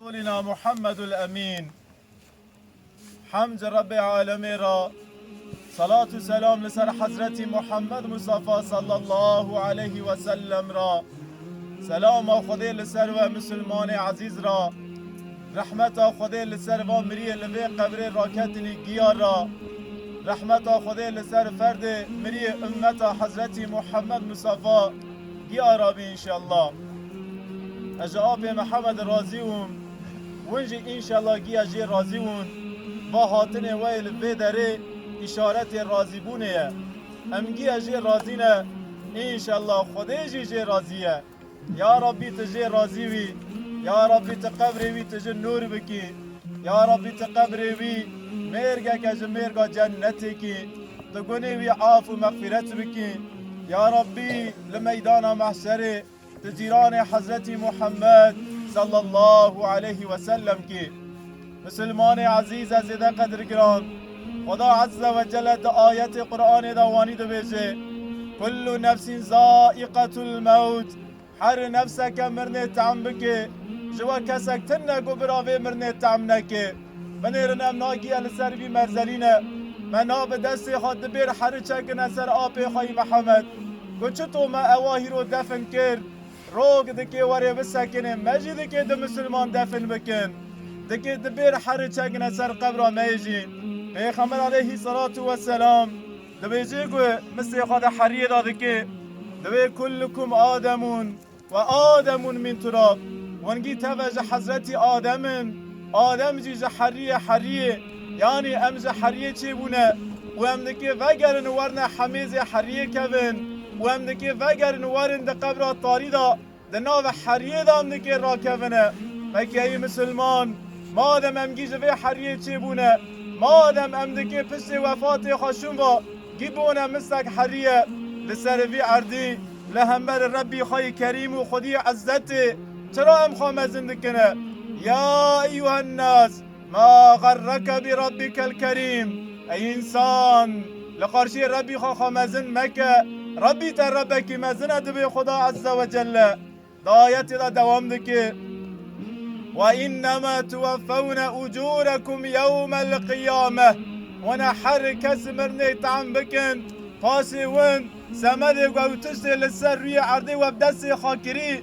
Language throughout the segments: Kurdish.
Solina Muhammedul Emîn Hemd ji Rebbê Alemê re, selat û selam li ser Hezretî Muhammed Mustafa sallallahu aleyhî we sellem re, selama Xwedê li ser we Misilmanê ezîz re, rehmeta Xwedê li ser van miriyê li vê qebrê raketinî giya re, rehmeta Xwedê li ser ferdê miriyê ummeta Hezretî Muhammed Mustafa, Diyar a bî înşellah. Ez ji apê me heme de razî wim. Win jî înşellah giya jê razî win. Va hatinê we yê li vê derê îşaretê razîbûnê ye. Em giya jê razî ne, înşellah Xwedê jî jê razî ye. Ya Rabbî tu jê razî wî. Ya Rabbî tu qebrê wî tu ji nûr bikî. Ya Rabbî tu qebrê wî mêrgeke ji mêrga cennetê kî. Di gunê wî af û mexfîret bikî. Ya Rabbî li meydana mehşerê tu cîranê Hezretî Muhammed sallallahu aleyhî we sellem kî. Misilmanê ezîz e zêde qedirgiran, Xweda ezze we celle di ayetê Quranê de wanî dibêje, Kullu nefsîn zaiqetul mewt, Herî nefseke mirinê tehm bikê, ji we kesek tim ne ku bira vê mirinê tehm nekê. Binêrin em nagiye li ser vî merzelîne. Me na bi destê xwe dibêr herî çekine ser apê xwe yî Mihemed. Ku çi to me ewa hîro defin kir. Rog dikê werê bisekinê me jî dikê du misilman defin bikin. Dikê dibêr herî çekine ser qebra me yê jî. Pêxember aleyhî selatu weselam. Dibêje ku misê xwe di heriyê de dike, divê Kullukum Ademun ve Ademun min turab, wengî teve ji Hezretî Adem in, Adem jî ji heriyê heriyê, yanî em ji heriyê çêbûne û em dikê vegerin werne hemêzê heriyê kevin û em dikê vegerin werin di qebra tarî de Di navê heriyê de em nikê rakevine. Mekyeyî misilman, madem em gî ji vê heriyê çêbûne, madem em dikê piştê wefatê xwe şûn va, gî bûne misek heriye. Li serê vî erdî, li hemberê Rebbî xwe yê Kerîm û Xwedîyê Izzetê, çira em xwe mezin dikine? Ya eyyuhennas! Ma xerreke bi Rabbikel Kerîm, Ey însan! Li qarşiyê Rebbî xwe xwe mezin meke, Rebbî te Rebbekî mezin e, divê Xuda Ezze Wecelle di ayetê de dewam dike, Ve înnema tuweffewne ucûrekum yewmel qiyame, wina her kes mirinê tam bikin, paşê win semedê gewtiştê li ser rûyê erdê we bi destê xwe kirî,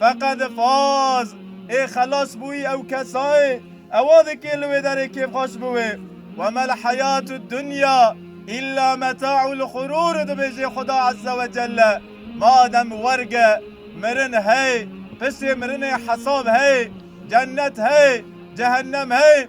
Feqet faz ê xelas bûyî ew kesayê ewa dikê li wê derê kêfxweş bi wê. Ve mel heyatü dunya illa meta'ul xurûr dibêjê Xuda Azze ve Celle. Madem werg e, mirin heye, pişê mirinê hesab heye, cennet heye, cehennem heye.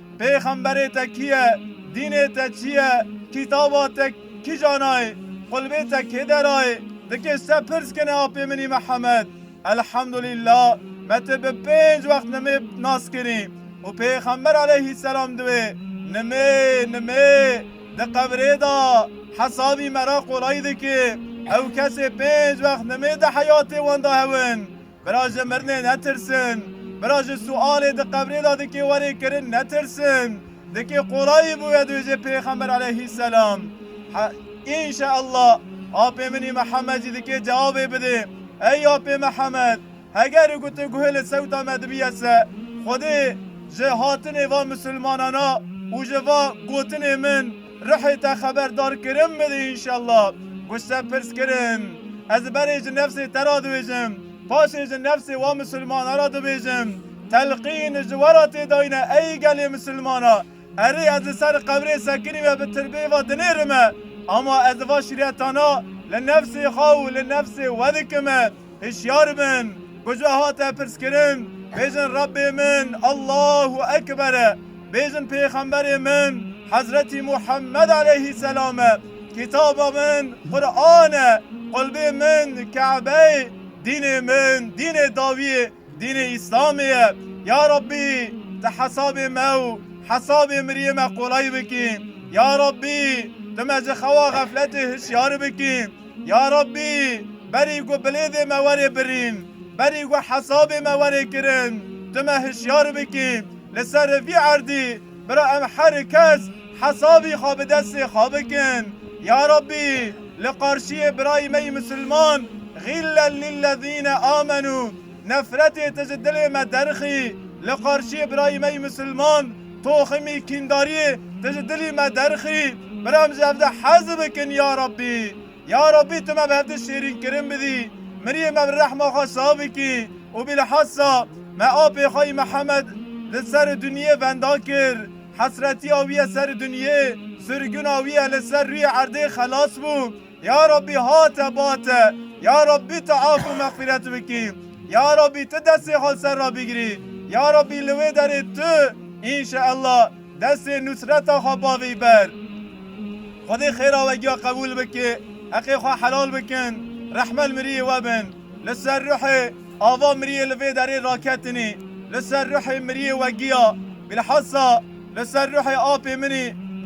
Pêxemberê te kî ye? Dînê te çi ye? Kitaba te kîja nayê? Xulbê te kê derayê? Dikê se pirs kene apê min î Mihemed. Elhemdulîla me ti bi pênc wext nimê nas kirî û pêxember aleyhîsselam di wê nimê nimê di qebrê da hesabî me ra qolay dikê. Ew kesê pênc wext nimê di heyatê wan da hewn. Bira ji mirinê netirsin. Bira ji sualê di qebrê de dikê werê kirin netirsin. Dikê qolayî bûye dûjê pêxember eleyhî selam. Înşeallah apê min î Mihemed jî dikê cewabê bidê. Ey apê Mihemed heger û gotê guhê li sewta me dibiye se xwedê ji hatinê va misilmanana û ji va gotinê min, Ruhê te xeberdarkirin bidî înşellah. Wisa pirs kirin, Ez berê ji nefsê te re dibêjim, paşê ji nefsê wan misilmana re dibêjim. Telqîn ji we re tê dayîne ey gelê misilmana, Erê ez li ser qebrê sekinî ve bi tirbê ve dinêrime, ama ez va şîretana li nefsê xwe û li nefsê we dikime. Hişyar bin ku ji we hate pirskirin, bêjin Rebbê min Allahu Ekber e, bêjin Pêxemberê min Hezretî Muhemmed aleyhî selam e, kitaba min Quran e, qulbê min Ka'be ye, dînê min dînê dawiyê, Dînê Îslamê ye. Ya Rabbî Tu hesabê me û hesabê miriyê me qolay bikî. Ya Rabbî Tu me ji xewa xefletê hişyar bikî. Ya Rabbî berî ku bilêvê me were birîn, berî ku hesabê me were kirin Tu me hişyar bikî. Li ser vî erdî bira em her kes, Hesabî xwe bi destê xwe bikin. Ya Rabbî li qarşiyê birayê me yê Misilman Gîllen lillezîne amenû Nefretê te ji dilê me derxî Li qarşiyê birayê me yê Misilman toximî kîndariyê te ji dilî me derxî Bira em ji hev de hez bikin ya Rabbî Ya Rabbî tu me bi hev de şêrînkirin bidî Miriyê me bi rehma xwe sax bikî û bîlhesa me apê xwe yê Mihemed li ser dinyê venda kir Hesretiya wî ye ser dinyê, sirgina wî ye li ser rûyê erdê xelas bû. Ya Rabbî hate bate, ya Rabbî tu af û mexfîret bikî, ya Rabbî tu destê xwe li ser re bigirî, ya Rabbî li wê derê tu înşeellah destê nusreta xwe bavêyî ber. Xwedê xêra we giya qebûl bike, heqê xwe helal bikin, rehme li miriyê we bin. Li ser ruhê ava miriyê li vê derê raketinî, li ser ruhê miriyê we giya, bilhassa li ser ruhê apê min î.